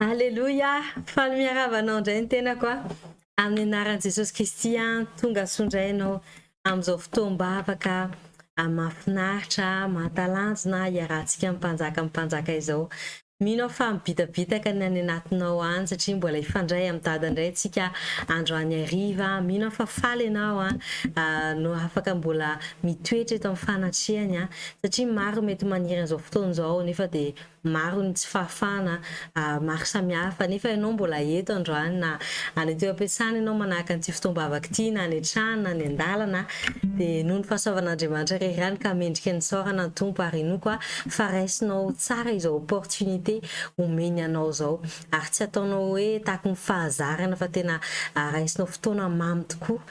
Aleloia! Faly miarahaba anao indray ny tenako a. Amin'ny anaran'i Jesosy Kristy a, tonga soa indray ianao amin'izao fotoam-bavaka mahafinaritra, mahatalanjona hiarahantsika amin'ny Mpanjaka ny Mpanjaka izao. Mino aho fa mibitabitaka ny any anatinao any satria mbola hifandray amin'i Dada indray isika androany hariva. Mino aho fa faly ianao a, no afaka mbola mitoetra eto amin'ny fanatrehany a, satria maro ny mety maniry an'izao fotoana izao nefa dia maro ny tsy fahafahana maro samihafa nefa ianao mbola eto androany na any an-toeram-piasana ianao manahaka an'ity fotoam-bavaka ity na any an-trano na any an-dalana dia noho ny fahasoavan'Andriamanitra re ihany ka mendrika ny isaorana ny Tompo ary inoako aho fa raisinao tsara izao opportunité omeny anao izao ary tsy ataonao hoe tahaky ny fahazarana fa tena raisinao fotoana mamy tokoa.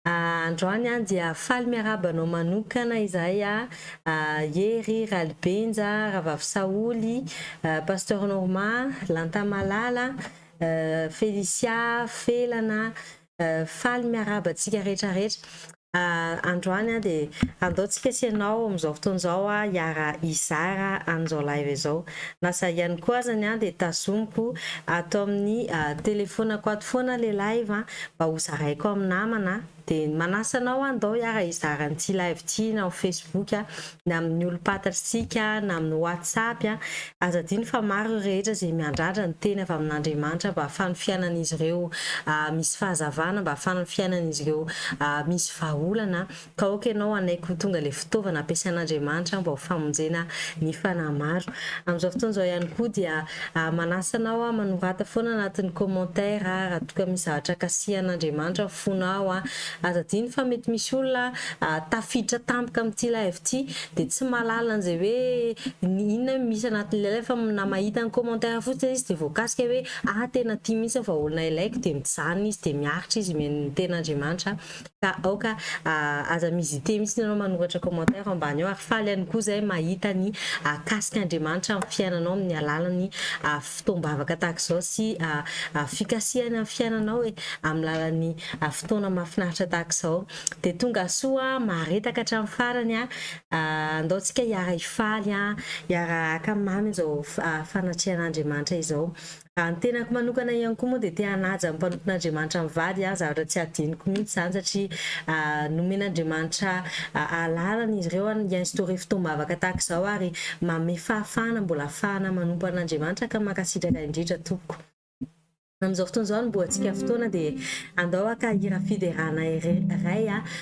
Androany an dia faly miarahaba anao manokana izahay Hery, Ralibenja, Rahavavy Saholy, Pasteur Norma, Lanta Malala, Felicia, Felana, faly miarahaba antsika rehetra rehetra androany an dia andao tsika sy ianao amin'izao fotoana izao hiara hizara an'izao live izao na za ihany koa azany an dia tazomiko ato amin'ny telefonako ato foana ilay live an mba ho zaraiko amin'ny namana dia manasa anao aho ndao hiara hizara an'ity live ity na amin'ny facebook na amin'ny olom-patantsika na amin'ny whatsapp aza adino fa maro ireo rehetra izay miandrandra ny teny avy amin'Andriamanitra mba hahafahan'ny fiainan'izy ireo misy fahazavana mba hahafahan'ny fiainan'izy ireo misy vahaolana Ka ok ianao hanaiky ho tonga ilay fitaovana ampiasain'Andriamanitra mba ho famonjena ny fanahy maro. Amin'izao fotoana izao ihany koa dia manasa anao manorata foana anatin'ny commentaire raha toa ka misy zavatra kasihan'Andriamanitra ny fonao. Aza adino fa mety misy olona tafiditra tampoka amin'ity live ity dia tsy mahalala an'izay hoe inona misy anatin'ilay live fa na mahita ny commentaire fotsiny izy dia voakasika hoe ah tena tia mihitsy fa olona ilaiko dia mijanona izy dia miaritra izy mihaino ny tenin'Andriamanitra. ka aoka aza mi-hésiter mihitsy ianao manoratra commentaire ambany eo ary faly ihany koa izay mahita ny akasika Andriamanitra amin'ny fiainanao amin'ny alalan'ny fotoam-bavaka tahaka izao sy fikasihany amin'ny fiainanao e! amin'ny lalan'ny fotoana mahafinaritra tahaka izao dia tongasoa maharetaka hatramin'ny farany an! andao tsika hiara-hifaly an! hiara-haka mamy izao fanatrehan'Andriamanitra izao Raha ny tenako manokana ihany koa moa dia te-hanaja ny mpanompon'Andriamanitra mivady aho, zavatra tsy hadinoko mihitsy izany satria nomen'Andriamanitra alalana izy ireo hi-instaurer fotoam-bavaka tahaka izao ary manome fahafahana mbola hahafahana manompo an'Andriamanitra ka mankasitraka indrindra tompoko. Amin'izao fotoana izao no niboahantsika fotoana dia andao haka hira fiderana iray aho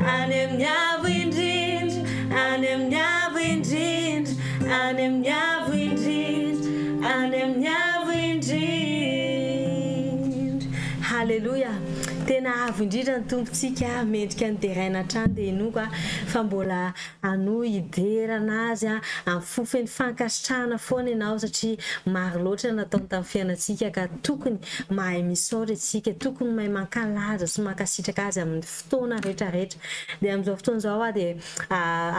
Any amin'ny Avo indrindra, any amin'ny Avo indrindra, any amin'ny Avo indrindra, any amin'ny Avo indrindra. Haleloia! Tena avo indrindra ny Tompontsika, mendrika ny deraina hatrany dia inoako aho fa mbola hanohy hidera an'Azy amin'ny fo feno fankasitrahana foana ianao satria maro loatra ny nataony tamin'ny fiainantsika ka tokony mahay misaotra isika, tokony mahay mankalaza sy mankasitraka Azy amin'ny fo. fotoana rehetrarehetra. Dia amin'izao fotoana izao hoa dia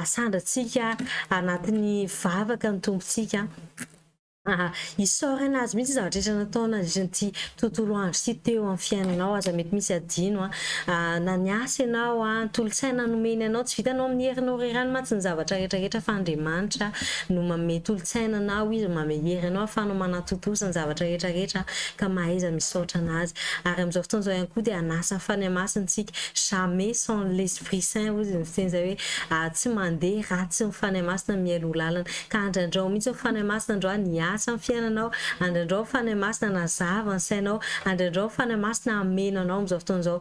asandrantsika anatin'ny vavaka ny Tompontsika, isaorana Azy mihitsy zavatra rehetra nataony nandritra ity tontolo andro ity teo amin'ny fiainanao, aza mety misy adino na ny asa ianao, ny tolotsaina nomeny anao, tsy vitanao amin'ny herinao irery ihany mantsy ny zavatra rehetrarehetra fa Andriamanitra no manome tolotsaina anao, Izy no manome hery anao ahafahanao manatontosa ny zavatra rehetrarehetra. ka mahaiza misaotra anazy ary amin'izao fotoana izao ihany koa dia hanasa ny fanahy masina isika jamais sans l'esprit saint hoy izy miteny izay hoe ary tsy mandeha raha tsy ny fanahy masina mihaino ny lalana ka andrandrao mihitsy ny fanahy masina androany ny asa amin'ny fiainanao andrandrao ny fanahy masina hanazava ny sainao andrandrao ny fanahy masina hameno anao amin'izao fotoana izao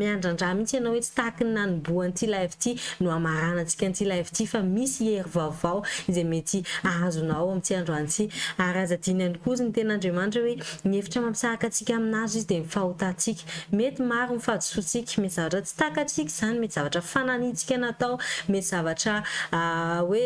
miandrandra mihitsy ianao hoe tsy tahaky ny nanombohan'ity live ity no hamaranantsika an'ity live ity fa misy hery vaovao izay mety ahazonao ao amin'ity androany ity. Ary aza adino ihany koa ny Tenin'Andriamanitra hoe ny hevitra mampisahaka antsika aminazy Izy dia ny fahotantsika. Mety maro ny fahadisoantsika, mety zavatra tsy takatsika izany, mety zavatra fananiantsika natao, mety zavatra hoe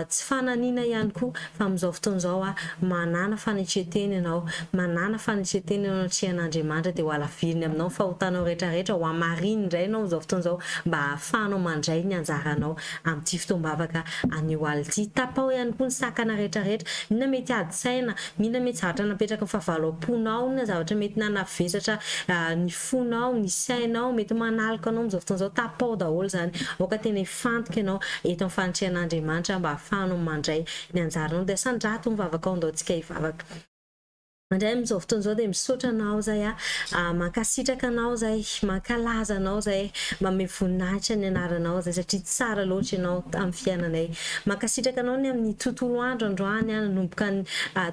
tsy fananina ihany koa. Fa amin'izao fotoana izao aho manàna fanetren-tena ianao, manàna fanetren-tena eo anatrehan'Andriamanitra, dia hohalaviriny aminao ny fahotanao rehetrarehetra, hohamariny indray ianao amin'izao fotoana izao, mba hahafahanao mandray ny anjaranao amin'ity fotoam-bavaka anio alina ity. Tapaho ihany koa ny sakana rehetrarehetra. Inona mety ady saina? Inona mety zavatra napetraky ny fahavalo am-ponao? Inona zavatra mety nanavesatra ny fonao, ny sainao, mety manaloka anao amin'izao fotoana izao? Tapaho daholo izany. Aoka tena Fantoka ianao eto amin'ny fanatrehan'Andriamanitra mba hahafahanao mandray ny anjaranao dia sandrato ny vavakao ndao tsika hivavaka. Mandray amin'izao fotoana izao dia misaotra anao zay a, mankasitraka anao zay, mankalaza anao zay, manome voninahitra ny anaranao zay satria tsara loatra ianao amin'ny fiainanay. Mankasitraka anao ny amin'ny tontolo andro androany a, nanomboka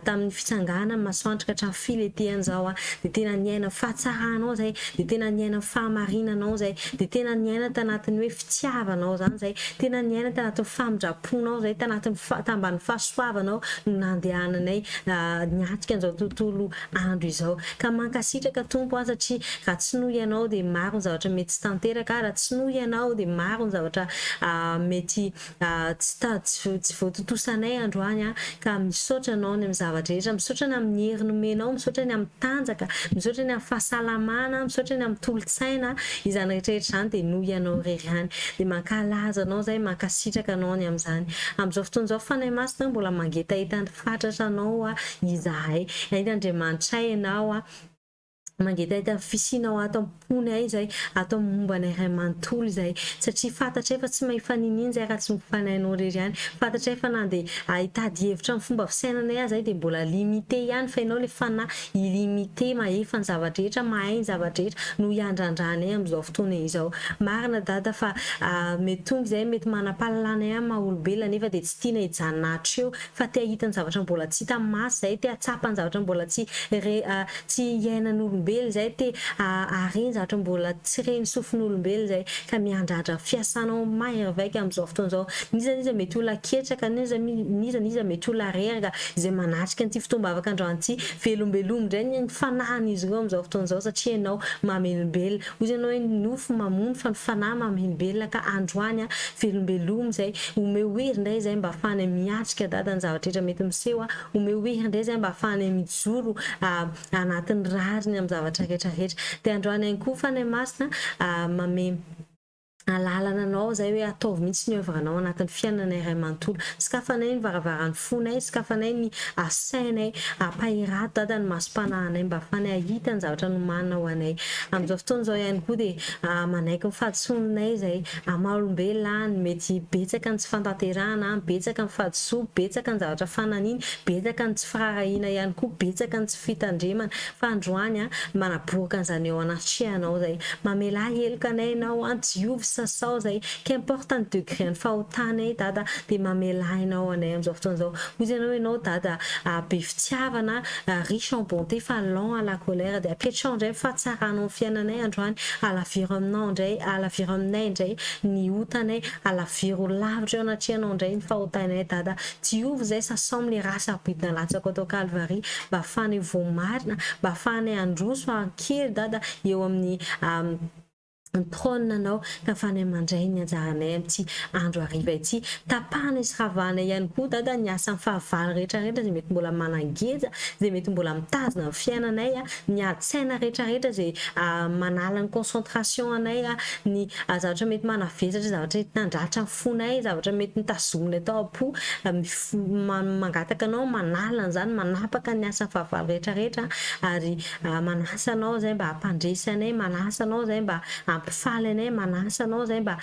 tamin'ny fitsangana ny masoandro ka hatramin'ny filenteany zao a, dia tena niaina fahatsaranao zay, dia tena niaina fahamarinanao zay, dia tena niaina tanatin'ny hoe fitiavanao izany izay, tena niaina tanatin'ny famindram-ponao izay, tanatin'ny fa- tambanin'ny fahasoavanao no nandehananay niatrika an'izao tontolo andro izao. Ka mankasitraka Tompo an, satria raha tsy noho Ianao dia maro ny zavatra mety tsy tanteraka, raha tsy noho Ianao dia maro ny zavatra mety Tsy tady tsy voatontosanay androany a! Ka misaotra anao ny amin'ny zavatra rehetra, misaotra ny amin'ny hery nomenao, misaotra ny amin'ny tanjaka, misaotra ny amin'ny fahasalamana, misaotra ny amin'ny tolotsaina, izany rehetra rehetra izany dia noho ianao irery ihany. Dia mankalaza anao izahay, mankasitraka anao ny amin'izany. Amin'izao fotoana izao Fanahy Masina a, mbola mangetaheta ny fatratra anao izahay. Hainga Andriamanitray ianao a! Mangetaheta fisiana ao ato am-pony ahy izay, ato amin'ny momba anay iray manontolo izay. Satria fantatray fa tsy may faniniana izay raha tsy mifanahy anao irery ihany. Fantatray fa na dia hitady hevitra amin'ny fomba fisainanay aza izahay dia mbola limité ihany fa ianao ilay fanahy illimité, mahefa ny zava-drehetra, mahay ny zava-drehetra no iandrandra anay amin'izao fotoana izao. Marina Dada fa mety tonga izahay mety manam-pahalalana ihany maha-olombelona nefa dia tsy tiana hijanona hatreho fa te hahita ny zavatra mbola tsy hita maso izay, te hahatsapa ny zavatra mbola tsy re, tsy hiainan'olombelona izay, te hahare ny zavatra mbola tsy ren'ny sofin'olombelona izay, ka miandrandra ny fiasanao mahery vaika amin'izao fotoana izao. N'iza n'iza mety ho olona ketraka, n'iza n'iza n'iza mety ho olona reraka izay manatrika an'ity fotoam-bavaka androany ity, velombelombo indray ny fanahin'izy ireo amin'izao fotoana izao satria ianao mamelombelona. Hoy ianao hoe ny nofo mamono fa ny fanahy mamhembelona ka androany a velombelomy zay omeo hery indray izay mba afahanay miatrika dada ny zavatra rehetra mety miseho a omeo hery indray izay mba afahanay mijoro a anatin'ny rariny amin'ny zavatra rehetra rehetra dia androany ihany koa fanahy masina a mamem alalana anao izay hoe ataovy mihitsy ny oeuvre nao anatin'ny fiainanay iray manontolo, sokafanay ny varavarany fonay, sokafanay ny sainay, ampaherado Dada ny masom-panahinay mba ahafahanay ahita ny zavatra nomanina ho anay, amin'izao fotoana izao ihany koa dia manaiky ny fahadisoanay izay amin'ny maha olombelona ahy, mety betsaka ny tsy fantanterahana ahy, betsaka ny fahadisoako, betsaka ny zavatra fananiny, betsaka ny tsy firaharahiana ihany koa, betsaka ny tsy fitandremana, Fa androany an, manaboaka an'izany eo anatrehanao izay, mamela heloka anay ianao an, diovy sasao izay, qu'importe ny degré ny fahotanay Dada dia mamelà ianao anay amin'izao fotoana izao, hoy izy anao ianao Dada ah, be fitiavana ah, riche en bonté fa lent à la colère dia apetraho indray ny fahatsaranao ny fiainanay androany, alaviro aminao indray, alaviro aminay indray ny otanay, alaviro lavitra eo anatrehanao indray ny fahotanay Dada, Diovy zay sasam le ra sabidina latsako ato Kalvary mba afahanay voamarina mba afahanay androso ankery Dada eo aminy trone anao ka afahanay mandray ny anjaranay amity andro hariva ity tapahanay sy ravahanay ihany koa Dada ny asany fahavalo retraretra zay mety mbola manangeja zay mety mbola mitazona ny fiainanay ny aditsaina retraretra zay manala ny concentration anay ny zavatra mety manavesatra zavatra entina andratra Fonay ny zavatra mety notazominy tao am-po, mangataka anao manala an'izany, manapaka ny asan'ny fahavalo rehetrarehetra ary manasa anao izay mba hampandresy anay, manasa anao izay mba hampifaly anay, manasa anao izay mba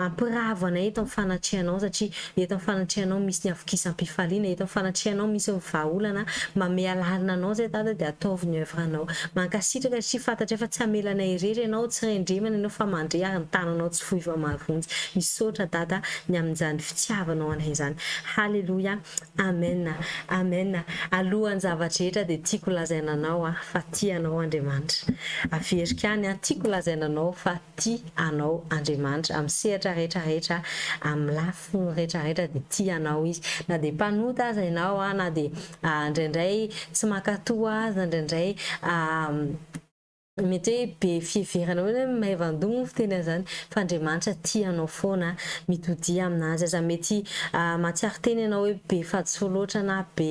hampiravo anay eto amin'ny fanatrehanao satria eto amin'ny fanatrehanao misy ny havokisam-pifaliana, eto amin'ny fanatrehanao misy ny vahaolana, mba ame alalana anao izay Dada dia ataovy ny oeuvre anao. Mankasitraka satria fantatray fa tsy hamela anay irery ianao, tsy rendremana ianao fa mandre ary ny tananao tsy. Tohizo amin'ny mahavonjy. Misaotra Dada ny amin'izany fitiavanao anay izany. Haleloia. Amen. Amen. Alohan'ny zava-drehetra dia tiako lazaina anao aho fa tia anao Andriamanitra. Averiko any an, tiako lazaina anao fa tia anao Andriamanitra. Amin'ny sehatra rehetra rehetra, amin'ny lafiny rehetra rehetra dia tia anao Izy. Na dia mpanota aza ianao, na dia indraindray tsy mankatò aza, indraindray Mety hoe be fiheverana hoe hoe maivan-doha moa fiteny an'izany fa Andriamanitra tia anao foana a! Mitodiha aminazy aza. Mety mahatsiaro tena ianao hoe be fahadisoa loatra na be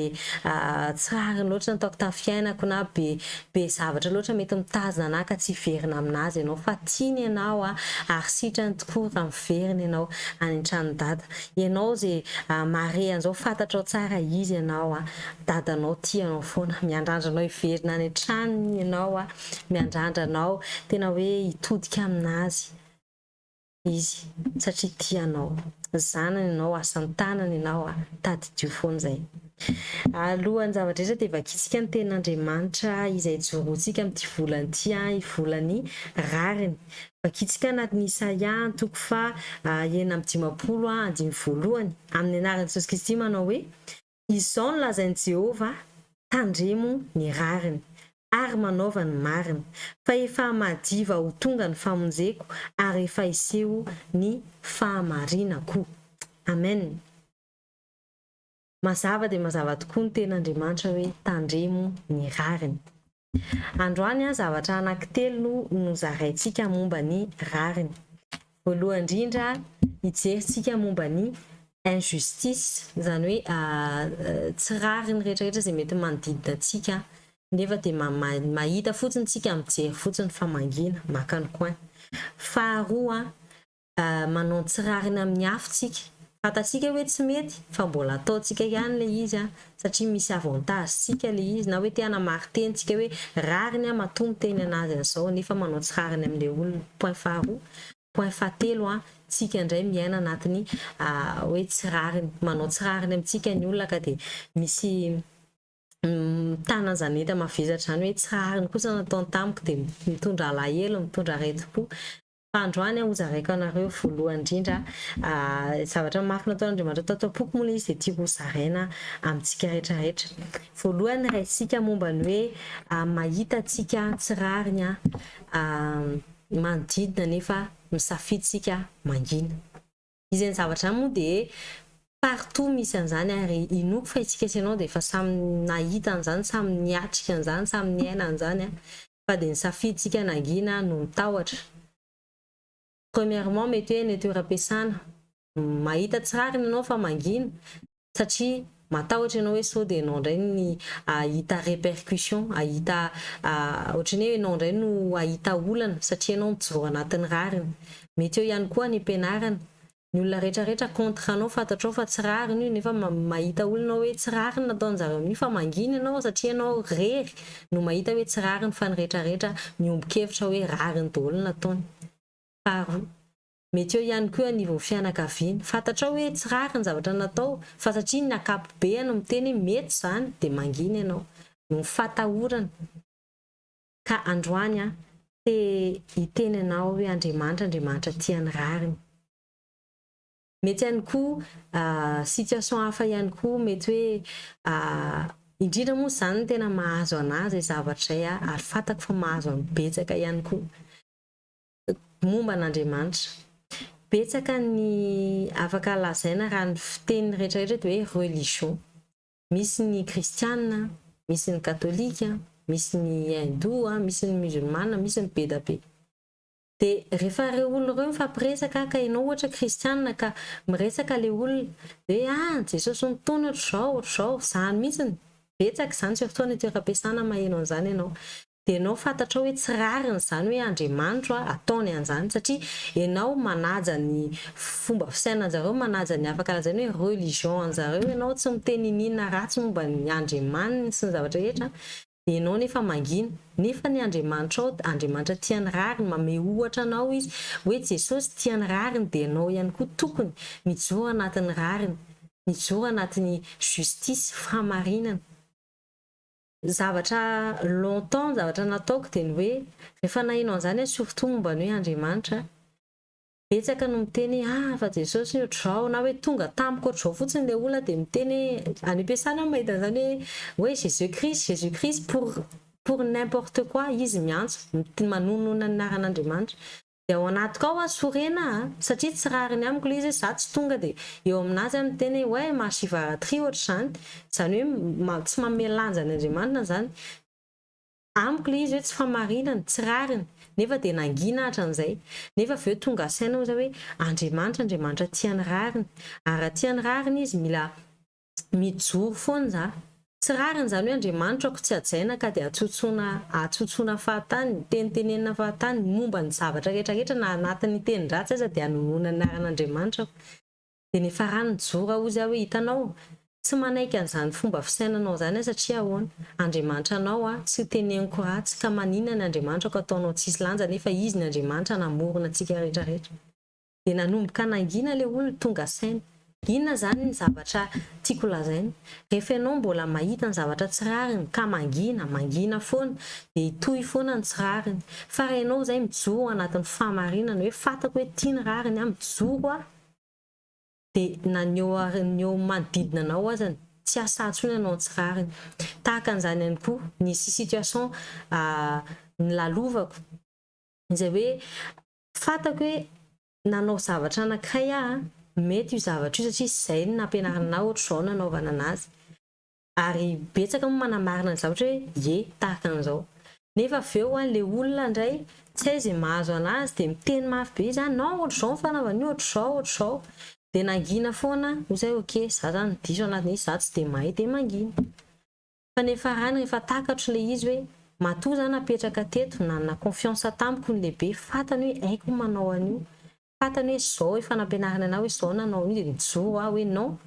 tsy rariny loatra ny ataoko tamin'ny fiainako na be be zavatra loatra mety mitazona anah ka tsy hiverina aminazy ianao fa tiany ianao a ary sitrany tokoa raha miverina ianao any an-tranon'i Dada. Ianao izay mahare an'izao fantatrao tsara Izy ianao a! Dadanao tia anao foana, miandrandra anao hiverina any an-tranony ianao a, miandrandra anao tena hoe hitodika amin'azy izy satria tia anao, zanany ianao, asa an-tanany ianao a, tadidio foana izay. Alohan'ny zava-drehetra dia vakintsika ny tenin'Andriamanitra izay ijoroantsika amin'ity volana ity a, ny volan'ny rariny. Vakintsika anatin'i Isaia antoko faha enina amby dimampolo andininy voalohany, amin'ny anaran'i Jesosy Kristy manao hoe, Izao no lazain'i Jehovah, Tandremo ny rariny, ary manaova ny marina, fa efa madiva ho tonga ny famonjeko, ary efa hiseho ny fahamarinako. Amen! Mazava dia mazava tokoa ny tenin'Andriamanitra hoe, Tandremo ny rariny. Androany, zavatra anankitelo no nozaraintsika momba ny rariny. Voalohany indrindra, hijerintsika momba ny injustice, izany hoe tsy rariny rehetrarehetra izay mety manodidina antsika, nefa dia mahita fotsiny isika, mijery fotsiny fa mangina, maka ny coin. Faharoa, manao ny tsy rariny amin'ny afo tsika. Fantatsika hoe tsy mety fa mbola ataontsika ihany ilay izy satria misy avantage tsika ilay izy na hoe te hanamarin-teny tsika hoe rariny aho matoa miteny an'azy an'izao nefa manao tsy rariny amin'ilay olona. Point faharoa. Point fahatelo, tsika indray miaina anatin'ny hoe tsy rariny. Manao tsy rariny amintsika ny olona ka dia misy mitana an'izany enta-mavesatra izany hoe tsy rariny kosa ny nataony tamiko dia mitondra alahelo, mitondra aretim-po. Androany aho hozaraiko anareo voalohany indrindra zavatra mafy nataon'Andriamanitra tato am-poko moa ilay izy dia tiako hozaraina amintsika rehetra rehetra. Voalohany raisika momba ny hoe mahita antsika tsy rariny ny manodidina nefa misafidy isika mangina. Izany zavatra izany moa dia partout misy an'izany ary inoako fa isika sy ianao dia efa samy nahita an'izany, samy niatrika an'izany, samy niaina an'izany. fa dia ny safidintsika nangina no mitahotra. Premièrement mety hoe ny toeram-piasana mahita tsy rariny ianao fa mangina satria matahotra ianao hoe sao dia ianao indray ny hahita répercussions, hahita ohatran'ny hoe ianao indray no hahita olana satria ianao mijoro anatin'ny rariny. Mety eo ihany koa ny am-pianarana, Ny olona rehetra rehetra contre anao fantatrao fa tsy rariny io nefa mahita olona hoe tsy rariny nataonjareo amin'io fa mangina ianao satria ianao rery no mahita hoe tsy rariny fa ny rehetra rehetra miombokevitra hoe rariny daholo ny nataony. Faharoa. Mety eo ihany koa eo anivon'ny fianakaviana. Fantatrao hoe tsy rariny ny zavatra natao fa satria ny akapobeany miteny hoe mety izany dia mangina ianao. Noho ny fahatahorana. Ka androany aho te hiteny anao hoe Andriamanitra, Andriamanitra tia ny rariny. Mety ihany koa situation hafa ihany koa mety hoe indrindra moa izany ny tena mahazo an'ahy izay zavatra izay aho ary fantako fa mahazo an'ny betsaka ihany koa momba an'Andriamanitra. Betsaka ny afaka lazaina raha ny fiteny rehetra rehetra dia hoe religion. Misy ny kristiana, misy ny katolika, misy ny hindoa, misy ny musulmana, misy ny bedabe. Dia rehefa ireo olona ireo mifampiresaka ka ianao ohatra kristiana ka miresaka ilay olona hoe ah Jesosy nitony ohatr'izao, ohatr'izao, izany mihitsy no betsaka izany surtout any an-toeram-piasana maheno an'izany ianao. dia enao fantatrao hoe tsy rariny izany hoe Andriamanitro a ataony anzany satria enao manaja ny fomba fisainanjareo manaja ny hafa karanzany hoe religion anjareo enao tsy miteny ininona ratsy momba ny Andriamaniny sy ny zavatra rehetra dia enao nefa mangina nefa ny Andriamanitrao Andriamanitra tia ny rariny manome ohatra anao izy hoe Jesosy tia ny rariny dia enao ihany koa tokony mijoro anatiny rariny mijoro anatiny justice fahamarinana. Ny zavatra longtemps, ny zavatra nataoko dia ny hoe, rehefa naheno an'izany aho surtout momba ny hoe Andriamanitra, betsaka no miteny hoe ah fa Jesosy io ohatr'izao na hoe tonga tamiko ohatr'izao fotsiny ilay olona dia miteny hoe, any am-piasana aho no mahita an'izany hoe, hoe Jesus Christ, Jesus Christ pour pour n'importe quoi izy miantso, manohinona ny anaran'Andriamanitra. Dia ao anatiko ao aho sorena a! satria tsy rariny amiko ilay izy hoe za tsy tonga dia eo aminazy aho miteny hoe ouais ma shivaratri ohatra izany, izany hoe tsy manome lanja an' Andriamanitra izany amiko ilay izy hoe tsy famarinana, tsy rariny, nefa dia nangina aho hatran'izay, nefa avy eo tonga saina aho izay hoe Andriamanitra, Andriamanitra tia ny rariny, ary raha tia ny rariny izy mila Mijoro foana za. Tsy rariny izany hoe Andriamanitro ako tsy hajaina ka dia hatsotsoana hatsotsoana fahatany, tenitenenina fahatany momba ny zavatra rehetra rehetra na anatin'ny tenin-dratsy aza dia anonoana ny anaran'Andriamanitra aho. Dia ny farany mijoro ahoa izy aho hoe hitanao, tsy manaiky an'izany fomba fisainanao izany aho satria ahoana, Andriamanitra anao aho, tsy teneniko ratsy ka maninona ny Andriamanitra ako ataonao tsisy lanja nefa izy ny Andriamanitra namorona antsika rehetra rehetra. dia nanomboka nangina ilay olona tonga saina, inona izany ny zavatra tiako lazaina? rehefa ianao mbola mahita ny zavatra tsy rariny ka mangina, mangina foana, dia hitohy foana ny tsy rariny, fa raha ianao izay mijoro anatin'ny fahamarinana hoe fantako hoe ity ny rariny aho, mijoro aho, dia na ny eo ny eo manodidina anao azany tsy hasahy intsony hanao ny tsy rariny, tahaka an'izany ihany koa nisy situation nilalovako izay hoe Fantako hoe nanao zavatra anankiray aho, mety io zavatra io satria izay no nampianarina anah, ohatr'izao no hanaovana an'azy. Ary betsaka moa manamarina ny zavatra hoe ie, tahaka an'izao. Nefa avy eo ilay olona indray tsy hay izay mahazo an'azy dia miteny mafy be izy ah, non ohatr'izao ny fanaovana an'io, ohatr'izao, ohatr'izao. Dia nangina foana aho, hoy izahay ok, izaho izany diso anatin'io, izaho tsy dia mahay dia mangina. Fa ny farany rehefa takatro le izy hoe matoa za napetraka teto, nanana confiance tamiko ny lehibe, fatany hoe haiko ny manao an'io, fatany hoe zao efa nampianariny anah hoe zao nanao an'io de mijoro aho hoe non,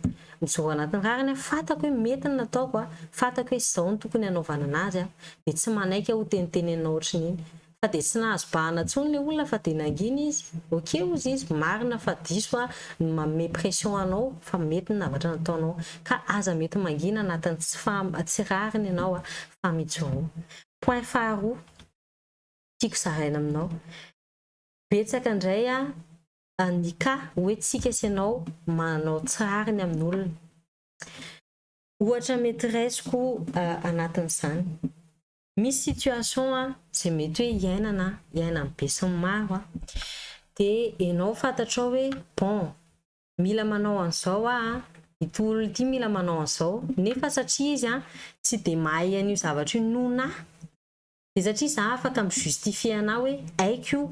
mijoro anatin'ny rariny aho, fatako hoe mety ny nataoko, fatako hoe zao no tokony hanaovana anazy, de tsy manaiky aho hoteniteneninao ohatrin'iny. Fa dia tsy nahazo bahana tsony le olona fa dia nangina izy. Ok ozy izy, marina fa diso aho ny manome pression anao fa mety ny navatra nataonao. Ka aza mety mangina anatin'ny tsy faha tsy rariny ianao a! Fa mijoroa. Point faharoa tiako zaraina aminao, betsaka indray a ny cas hoe tsika sy ianao manao tsy rariny amin'olona. Ohatra mety raisiko anatin'izany. Misy situation an, izay mety hoe iainana an, iainan'ny besinimaro an, dia ianao fantatrao hoe bon, mila manao an'izao aho an, ity olona ity mila manao an'izao, nefa satria izy an, tsy dia mahay an'io zavatra io noho anah, dia satria za afaka mi justifier anah hoe haiko io,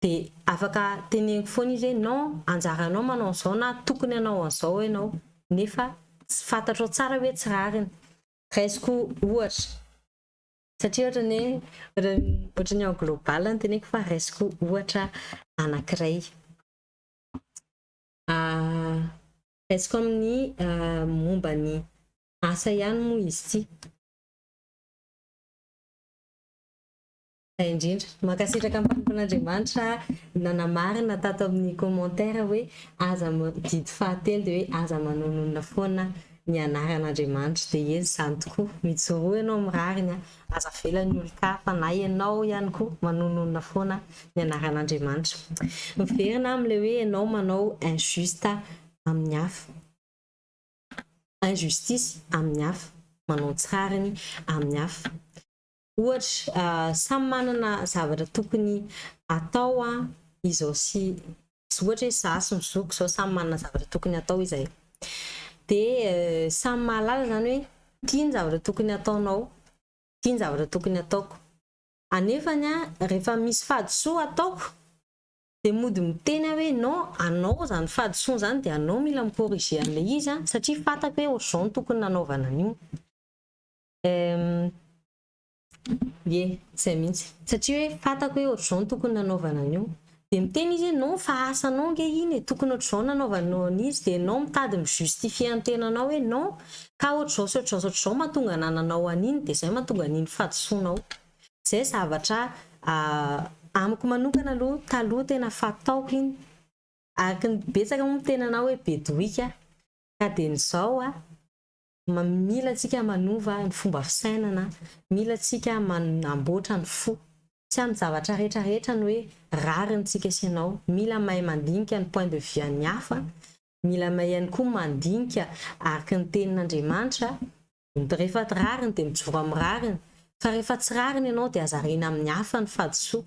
dia afaka teneniko foana izy hoe non, anjaranao manao an'izao na tokony hanao an'izao ianao, nefa tsy fantatrao tsara hoe tsy rariny. Raisiko ohatra, satria ohatran'ny hoe ohatran'ny en global no teneniko fa raisiko ohatra anankiray. Raisiko amin'ny momba ny asa ihany moa izy ity. indrindra. Mankasitraka ampanimpon'Andriamanitra nanamarina tato amin'ny commentaire hoe aza didy fahatelo dia hoe aza manononona foana ny anaran'Andriamanitra dia ezy izany tokoa mijoroa ianao amin'ny rariny a aza avela ny olon-kafa na ianao ihany koa manononona foana ny anaran'Andriamanitra miverina amin'ilay hoe ianao manao injuste amin'ny hafa injustice amin'ny hafa manao tsy rariny amin'ny hafa Ohatra, samy manana zavatra tokony atao izao sy izao, ohatra hoe za sy ny zokiko izao samy manana zavatra tokony atao izahay, dia samy mahalala izany hoe ity ny zavatra tokony ataonao, ity ny zavatra tokony ataoko. Anefany rehefa misy fahadisoa ataoko dia mody miteny aho hoe non, anao izany fahadisoana izany dia anao mila mi-corriger an'ilay izy satria fantako hoe ohatr'izao no tokony nanaovana an'io. Ye, zay mihitsy. Satria hoe fatako hoe ohatr'izao no tokony nanaovana an'io. Dia miteny izy hoe non fa asanao ange iny e, tokony ohatr'izao no nanaovanao an'izy. Dia ianao mitady mi justifier an'ny tenanao hoe non ka ohatr'izao sy ohatr'izao sy ohatr'izao mahatonga anananao an'iny dia izay mahatonga an'iny fahadisoanao. Izay zavatra amiko manokana aloha taloha tena fataoko iny. Araka ny betsaka moa miteny anao hoe be dohika ka dia ny izao a. Mila antsika manova ny fomba fisainana, mila antsika manamboatra ny fo. Tsy amin'ny zavatra rehetra rehetra ny hoe rariny tsika sy ianao. Mila mahay mandinika ny point de vue an'ny hafa, mila mahay ihany koa mandinika araka ny tenin'Andriamanitra. Rehefa rariny dia mijoro amin'ny rariny, fa rehefa tsy rariny ianao dia aza ariana amin'ny hafa ny fahadisoa.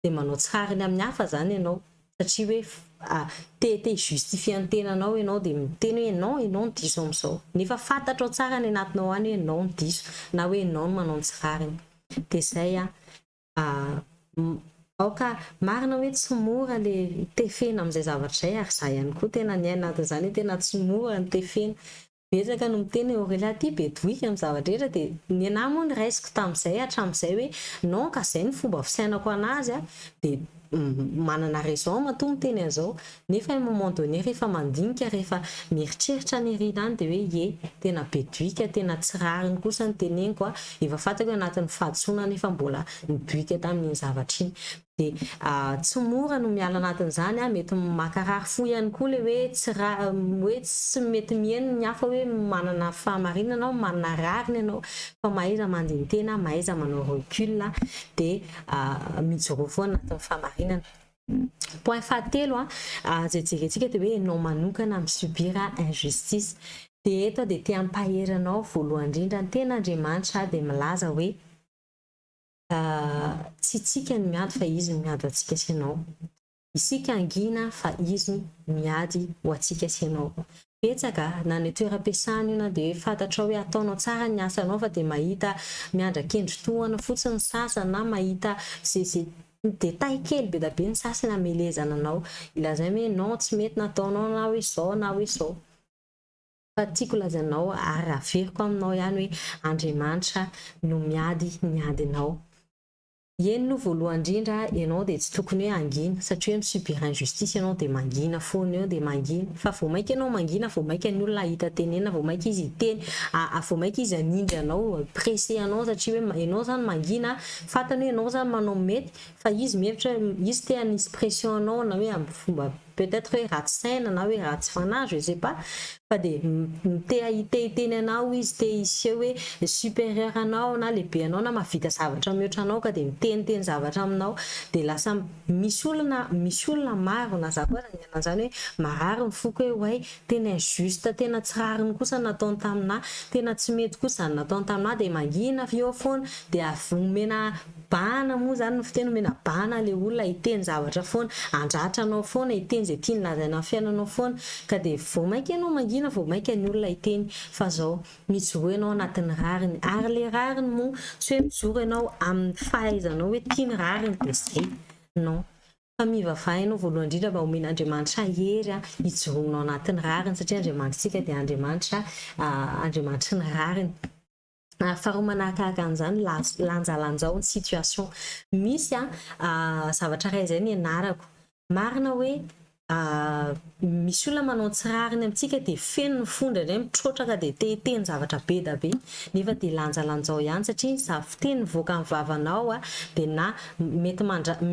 dia manao tsy rariny amin'ny hafa izany ianao satria hoe te te hi-justifier ny tenanao ianao dia miteny hoe ianao ianao no diso amin'izao nefa fantatrao tsara any anatinao any hoe ianao no diso na hoe ianao no manao ny tsy rariny. Dia izay an! Aoka marina hoe tsy mora le tefena amin'izay zavatra izay ary izaho ihany koa tena niaina anatin'izany hoe tena tsy mora ny tefena Betsaka no miteny hoe Aurélien ty be boika amin'ny zavatra rehetra dia ny anah moa niraisiko tamin'izay hatramin'izay hoe non ka izay no fomba fisainako anazy a dia manana raison matoa miteny an'izao nefa un moment donné rehefa mandinika rehefa mieritreritra nirina any dia hoe ye tena be doika tena tsy rariny kosa ny teneniko a efa fantako hoe anatin'ny fahadisoana nefa mbola nidoika tamin'iny zavatra iny dia tsy mora no miala anatin'izany an, mety makarary fo ihany koa ilay hoe tsy rariny ny hoe tsy mety miheno ny hafa hoe manana fahamarinana aho, manana rariny ianao fa mahaiza mandini-tena, mahaiza manao recul dia mijoroa fo anatin'ny fahamarinana. Point fahatelo an, izay jerentsika dia hoe ianao manokana mi subir injustice, dia eto aho dia te hampahery anao voalohany indrindra ny tena Andriamanitra dia milaza hoe, Tsy itsika no miady fa Izy no miady ho antsika sy ianao. Isika hangina fa Izy no miady ho antsika sy ianao. Betsaka, na any an-toeram-piasana io na dia hoe fantatrao hoe ataonao tsara ny asanao fa dia mahita miandrakendry tohana fotsiny ny sasany na mahita ze ze détail kely be da be ny sasany hamelezana anao, hilazainy hoe non tsy mety ny ataonao na hoe zao na hoe zao. Fa tiako lazainao ary averiko aminao ihany hoe Andriamanitra no miady ny adinao. Eny no voalohany indrindra ianao dia tsy tokony hoe hangina satria hoe mi-subir injustice ianao dia mangina foana eo dia mangina fa vao maika ianao mangina vao maika ny olona hahita tenenina vao maika izy hiteny a vao maika izy hanindry anao presser anao satria hoe ianao izany mangina fantany hoe ianao izany manao ny mety fa izy mihevitra hoe izy te hanisy pression anao na hoe amin'ny fomba peut être hoe ratsy saina na hoe ratsy fanahy je sais pas fa dia te hahite hiteny anao izy te hiseho hoe supérieur anao na lehibe anao na mahavita zavatra mihoatra anao ka dia miteniteny zavatra aminao dia lasa misy olona misy olona maro na za koa aza niaina an'izany hoe marary ny foko hoe oay tena injuste tena tsy rariny kosa ny nataony tamin'ahy tena tsy mety kosa izany nataony tamin'ahy dia mangina eo foana dia avy omena Bahana moa izany ny fiteny omena bahana ilay olona hiteny zavatra foana, handratra anao foana, hiteny izay tiany lazaina amin'ny fiainanao foana, ka dia vao mainka ianao mangina vao mainka ny olona hiteny fa izao, mijoroa ianao anatin'ny rariny, ary ilay rariny moa tsy hoe mijoro ianao amin'ny fahaizanao hoe ity ny rariny dia izay, non, fa mivavaha ianao voalohany indrindra mba homen'Andriamanitra hery hijoroanao anatin'ny rariny satria Andriamanitrtsika dia Andriamanitra Andriamanitry ny rariny. Faharoa manahakahaka an'izany, lanjalanjao ny situation. Misy zavatra iray izay nianarako, marina hoe misy olona manao tsy rariny amintsika dia feno ny fo indraindray mitrotraka dia te hiteny zavatra be dia be nefa dia lanjalanjao ihany satria ny za fiteny mivoaka amin'ny vavanao dia na mety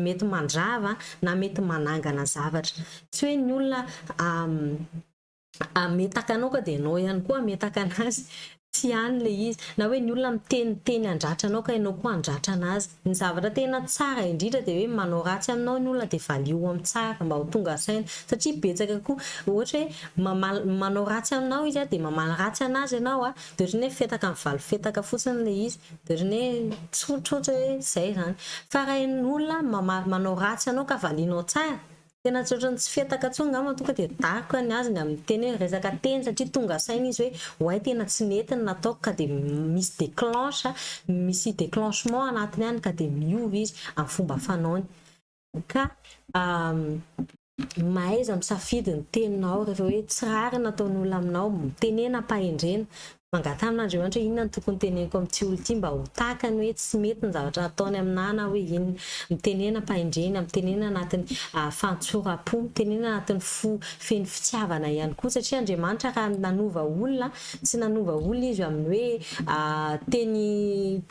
mety mandrava na mety manangana zavatra. Tsy hoe ny olona hametaka anao ka dia ianao ihany koa hametaka anazy, tsy any ilay izy. Na hoe ny olona miteniteny handratra anao ka ianao koa handratra anazy. Ny zavatra tena tsara indrindra dia hoe manao ratsy aminao ny olona dia valio ho amin'ny tsara mba ho tonga saina. Satria betsaka koa ohatra hoe mamaly, manao ratsy aminao izy dia mamaly ratsy anazy ianao dia ohatran'ny hoe fetaka mivalo fetaka fotsiny ilay izy. Dia ohatran'ny hoe tsotra ohatra hoe izay izany. Fa raha ny olona mamaly, manao ratsy anao ka valianao tsara Tena tsy ohatran'ny tsy fihataka intsony angamba tonga dia daroka ny azy ny amin'ny teny hoe resaka teny satria tonga saina izy hoe oay tena tsy nety ny nataoko ka dia misy déclenche, misy déclenchement anatiny any ka dia miova izy amin'ny fomba fanaony. Ka mahaiza misafidy ny teninao rehefa hoe tsy rariny ny ataon'olona aminao, tenena am-pahendrena, Mangataha aminareo andry hoe inona no tokony teneniko amin'ity olona ity mba ho takany hoe tsy mety ny zavatra ataony aminà na hoe inona. Mitenena ampahendrena, mitenena anatin'ny fahantsoram-po, mitenena anatin'ny fo feno fitiavana ihany koa satria Andriamanitra raha nanova olona, tsy nanova olona izy amin'ny hoe teny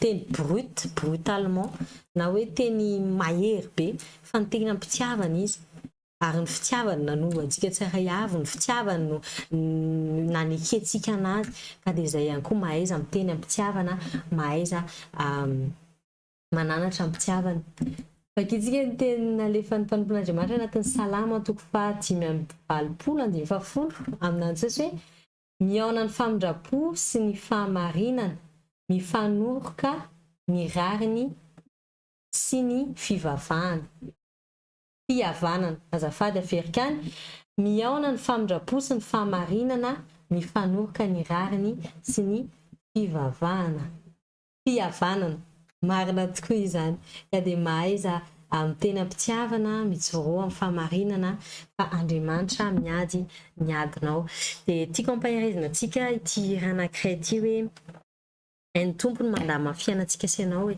teny brut, brutalement, na hoe teny mahery be fa niteny am-pitiavana izy. Ary ny fitiavany nanova antsika tsirairay avy, ny fitiavany no nanekentsika an'Azy, ka dia izay ihany koa mahaiza miteny am-pitiavana, mahaiza mananatra am-pitiavana. Vakintsika ny teny nalefan'ny mpanompon'Andriamanitra anatin'ny Salamo toko faha dimy amby valopolo, andininy faha folo, amina antsasy hoe, Mihaona ny famindram-po sy ny fahamarinana, mifanoroka ny rariny sy ny fivavahana. fihavanana. Azafady aferika any, mihaona ny famindra-po sy ny fahamarinana mifanoroka ny rariny sy ny fivavahana. Fihavanana. Marina tokoa izany. Ka dia mahaiza amin'ny teny am-pitiavana mijoroa amin'ny fahamarinana fa Andriamanitra miady ny adinao. Dia tiako ampaherezina antsika ity hira anankiray ity hoe, Hain'ny Tompo ny mandamina ny fiainantsika sy ianao e.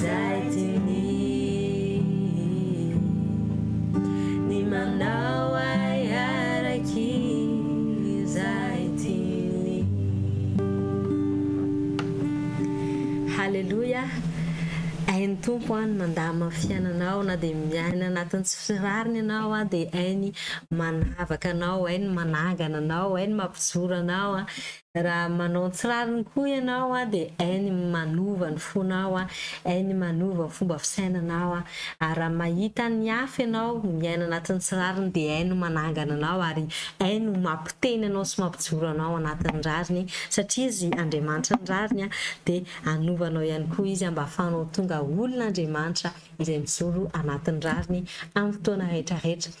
Zay tiany ny manao ahy araky zay tiany Haleloia Hain'ny Tompo an ny mandama ny fiainanao na dia miaina anatin'ny tsy firariny ianao an dia hainy manavaka anao, hainy manangana anao, hainy mampijoro anao an, Raha manao tsy rariny koa ianao dia hay ny manova ny fonao, hay ny manova ny fomba fisainanao. Ary raha mahita ny hafa ianao miaina anatin'ny tsy rariny dia hay no manangana anao ary hay no mampiteny anao sy mampijoro anao anatin'ny rariny satria Izy Andriamanitra ny rariny dia hanova anao ihany koa Izy mba hahafahanao tonga olon'Andriamanitra izay mijoro anatin'ny rariny amin'ny fotoana rehetra rehetra.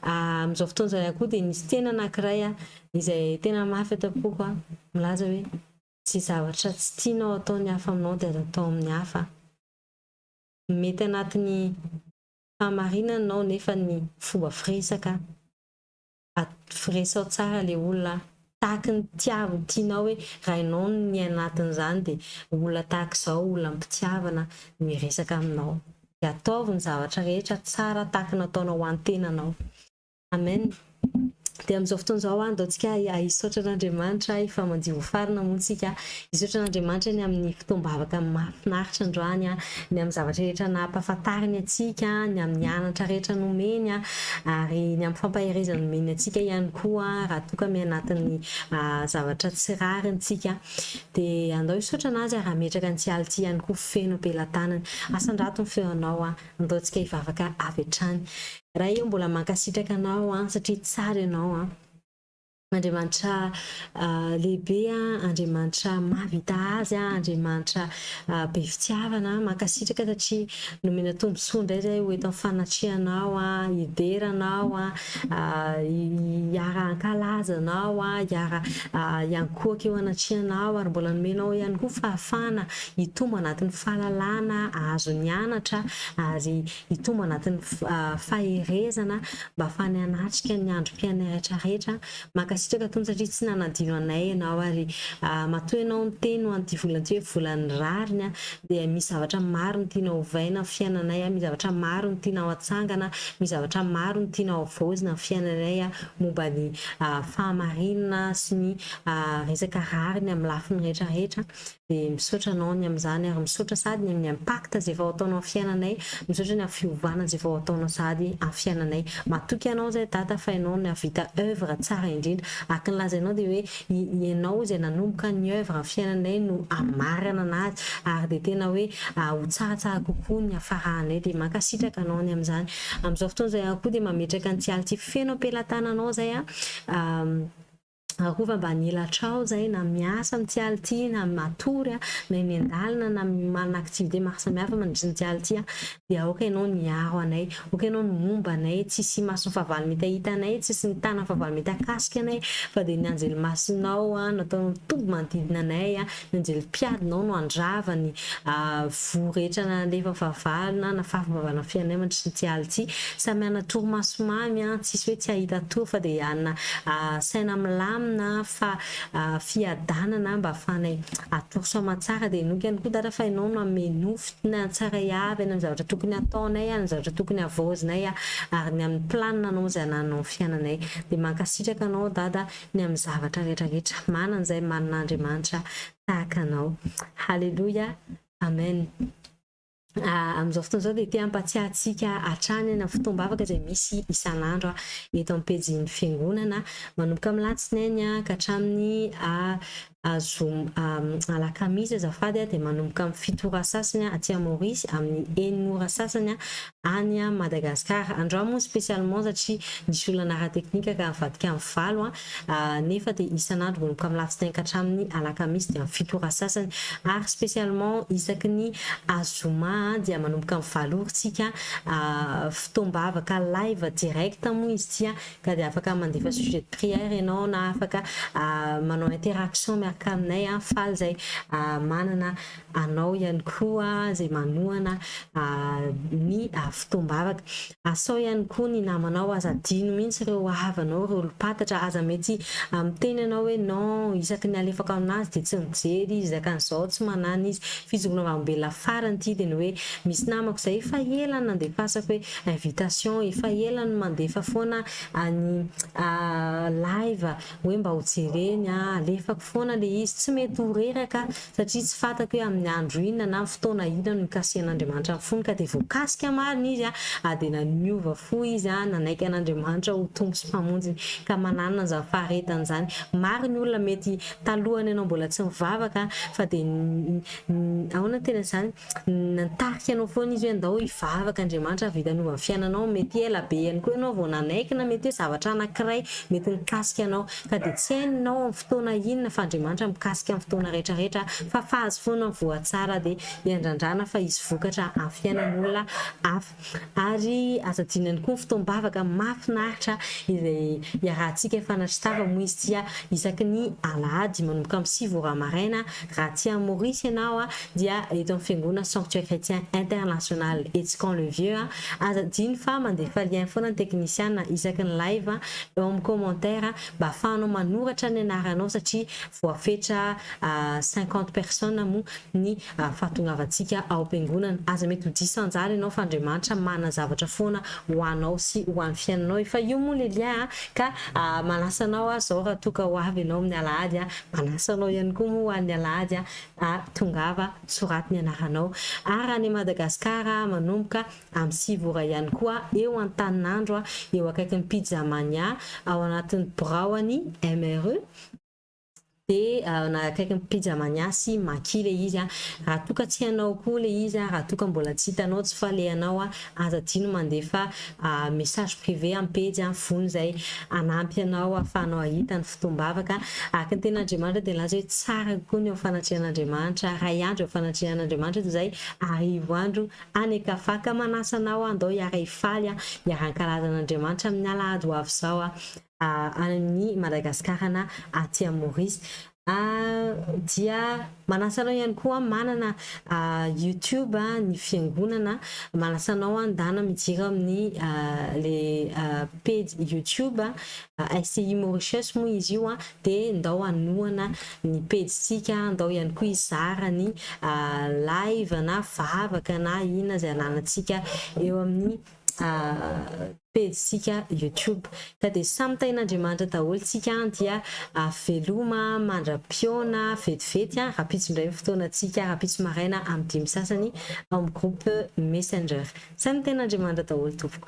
Amin'izao fotoana izao ihany koa dia misy teny anankiray izay tena mafy eto am-poko an, milaza hoe, Izay zavatra tsy tianao hataon'ny hafa aminao dia aza atao amin'ny hafa. Mety anatin'ny fahamarinana ianao nefa ny fomba firesaka, resaho tsara ilay olona an, tahaky ny tiavo tianao hoe raha ianao no ny anatin'izany dia olona tahaka izao olona am-pitiavana no hiresaka aminao. Dia ataovy ny zavatra rehetra tsara tahaky ny ataonao ho an-tenanao. Amen Dia amin'izao fotoana izao aho andao tsika hisaotra an'Andriamanitra ahy fa mandio ho farina moa tsika hisaotra an'Andriamanitra ny amin'ny fotoam-bavaka mahafinaritra androany an, ny amin'ny zavatra rehetra nampahafantariny antsika, ny amin'ny anatra rehetra nomeny an, ary ny amin'ny fampaherezana nomeny antsika ihany koa raha toa ka mianatin'ny zavatra tsy rariny tsika. Dia andao hisaotra an'Azy ary hametraka an'ity alina ity ihany koa feno am-pelatanany. Asandrato ny feonao an. Andaontsika hivavaka avy hatrany. Ray ô mbola mankasitraka anao an satria tsara ianao an. Andriamanitra lehibe an, Andriamanitra mahavita azy an, Andriamanitra be fitiavana an, mankasitraka satria nomena tombontsoa indray zay ho eto amin'ny fanatrehanao an, hidera anao an, hiara hankalaza anao an, hiara hiankohoka eo anatrehanao ary mbola nomenao ihany koa fahafahana hitombo anatin'ny fahalalana azony anatra ary hitombo anatin'ny faherezana mba afahany hanatrika ny androm-piainany rehetra rehetra. Mankasitraka Tompo satria tsy nanadino anay Ianao ary matoa Ianao niteny ho an'ity volana ity hoe volan'ny rariny dia misy zavatra maro no tianao hovaina amin'ny fiainanay, misy zavatra maro no tianao hatsangana, misy zavatra maro no tianao havaozina amin'ny fiainanay momba ny fahamarinana sy ny resaka rariny amin'ny lafiny rehetra rehetra. dia misaotra anao ny amin'izany ary misaotra sahady ny amin'ny impact izay vao ataonao amin'ny fiainanay, misaotra ny amin'ny fiovana izay vao ataonao sahady amin'ny fiainanay, matoky anao izahay Dada fa ianao no nahavita oeuvre tsara indrindra, araka ny lazainao dia hoe ianao izay nanomboka ny oeuvre amin'ny fiainanay no amaranana azy ary dia tena hoe ho tsaratsara kokoa ny hafaranay dia mankasitraka anao ny amin'izany, amin'izao fotoana izao ihany koa dia mametraka ny tsialy tsy feno am-pelatananao izahay a. Arovy ambany elatrao izay na miasa amin'ny tsy aly ity na matory a, na eny an-dalana na manana activité maro samihafa mandritry ny tsy aly ity aho dia aoka ianao ny hiaro anay, aoka ianao ny homba anay, tsisy mason'ny fahavalo mety hahita anay, tsisy ny tanan'ny fahavalo mety hakasika anay fa dia ny anjelimasinao a nataonao mitombo manodidina anay a. Anjely mpiadinao no handrava ny voa rehetra nalefa fahavalo na nafafy am-bavahana fiainanay mandritran'ity alina ity. Samy hanana torimaso mamy, tsisy hoe tsy hahita tory fa dia hanana saina milamina fa fiadanana mba hahafahanay hatory soa aman-tsara. Dia henoiko ihany koa Dada fa ianao no hanome nofy tsaray avy any amin'ny zavatra tokony hataonay, any amin'ny zavatra tokony havaozinay ary ny amin'ny planina anao izay hanananao ny fiainanay. Dia mankasitraka anao Dada ny amin'ny zavatra rehetra rehetra manana izay manana Andriamanitra tahaka anao haleloia amen amin'izao fotoana izao dia te hampatsiahy antsika hatrany na fotoam-bavaka izay misy isan'andro eto amin'ny pejin'ny fiangonana manomboka amin'ny latsinainy ka hatramin'ny zoma, alakamisy azafady, dia manomboka amin'ny fito ora sasany aty à Maurice, amin'ny enina ora sasany any Madagascar. Androany moa spécialement satria nisy olana ara teknika ka nivadika amin'ny valo, nefa dia isan'andro manomboka amin'ny alatsinainy ka hatramin'ny alakamisy dia amin'ny fito ora sasany, ary spécialement isaky ny zoma dia manomboka amin'ny valo ora tsika fotoam-bavaka live direct moa izy ity ka dia afaka mandefa sujet de prière ianao na afaka manao interaction miaraka aminay an, faly izay manana anao ihany koa izay manohana ny fotoam-bavaka. Asao ihany koa ny namanao, aza adino mihitsy ireo havanao, ireo olom-pantatra, aza mety miteny ianao hoe non, isaky ny alefako aminazy dia tsy mijery izy, zakany izao tsy manana izy, fijoroana vavolombelona farany ity dia ny hoe misy namako izay efa ela no nandefasako hoe invitation efa ela no mandefa foana any live hoe mba ho jereny a, alefako foana le izy, tsy mety ho reraka satria tsy fatako hoe amin'ny andro inona na fotoana inona no nikasihan'Andriamanitra ny fony ka de voakasika marina izy a de niova fo izy a, nanaiky an'Andriamanitra ho Tompo sy Mpamonjiny ka mananina an'izany faharetany izany, maro ny olona mety talohan'ny ianao mbola tsy nivavaka fa de ny ahoana ny tenany izany? Nitarika anao foana izy hoe ndao hivavaka Andriamanitra avy hitanova ny fiainanao, mety ela be ihany koa ianao vao nanaiky na mety hoe zavatra anankiray mety nikasika anao ka dia tsy hainao amin'ny fotoana inona fa Andriamanitra mikasika ny fotoana rehetra rehetra fa fahazo foana ny voa tsara dia iandrandrana fa hisy vokatra amin'ny fiainan'olona hafa. Ary aza adino ihany koa ny fotoam-bavaka mahafinaritra izay iarahantsika efa nahatsitarana, moa izy ity isaky ny alahady manomboka amin'ny sivy ora maraina, raha aty amin'ny Maorisy ianao dia eto amin'ny fiangonana Sanctuaire Chrétien International etsy Camp le Vieux. Aza adino fa mandefa lien foana ny teknisiana isaky ny live eo amin'ny commentaire mba ahafahanao manoratra ny anaranao satria voafetra cinquante personnes moa ny fahatongavantsika ao am-piangonana. Aza mety ho diso anjara ianao fa Andriamanitra manana zavatra foana ho anao sy ho an'ny fiainanao e! Fa io moa le lien a! Ka manasa anao aho izao raha toa ka ho avy ianao amin'ny alahady a! Manasa anao ihany koa moa ho an'ny alahady a! a! Tongava, soraty ny anaranao. Ary raha any Madagasikara a! Manomboka amin'ny sivy ora ihany koa eo Antaninandro a! Eo akaikin'ny Pizza Mania, ao anatin'ny biraon'ny MRE. dia na akaiky ny pizza mania sy maki le izy raha toa ka tsy hanao koa le izy raha toa ka mbola tsy hitanao tsy falehanao aza adino mandefa message privé am pejy fony izay hanampy anao afahanao ahita ny fotoam-bavaka araka ny teny Andriamanitra dia nilaza hoe tsara kokoa ny eo am fanatrehan Andriamanitra ray andro eo fanatrehan Andriamanitra toy izay arivo andro any an-kafa ka manasa anao andao hiara hifaly hiara ankalazan Andriamanitra amin ny alahady ho avy izao any amin'ny Madagasikara na aty amin'ny Maurice dia manasa anao ihany koa manana youtube ny fiangonana manasa anao handana mijira amin'ny le pejy youtube SCI Mauritius moa izy io dia ndao hanohana ny pejintsika ndao ihany koa hizara ny live na vavaka na inona izay ananantsika eo amin'ny pejy tsika youtube ka dia samy tahin' Andriamanitra daholo tsika an dia veloma mandra piona vetivety an rapitso indray ny fotoana tsika rapitso maraina am dimy sasany ao am groupe messenger samy tahin' Andriamanitra daholo tompoko.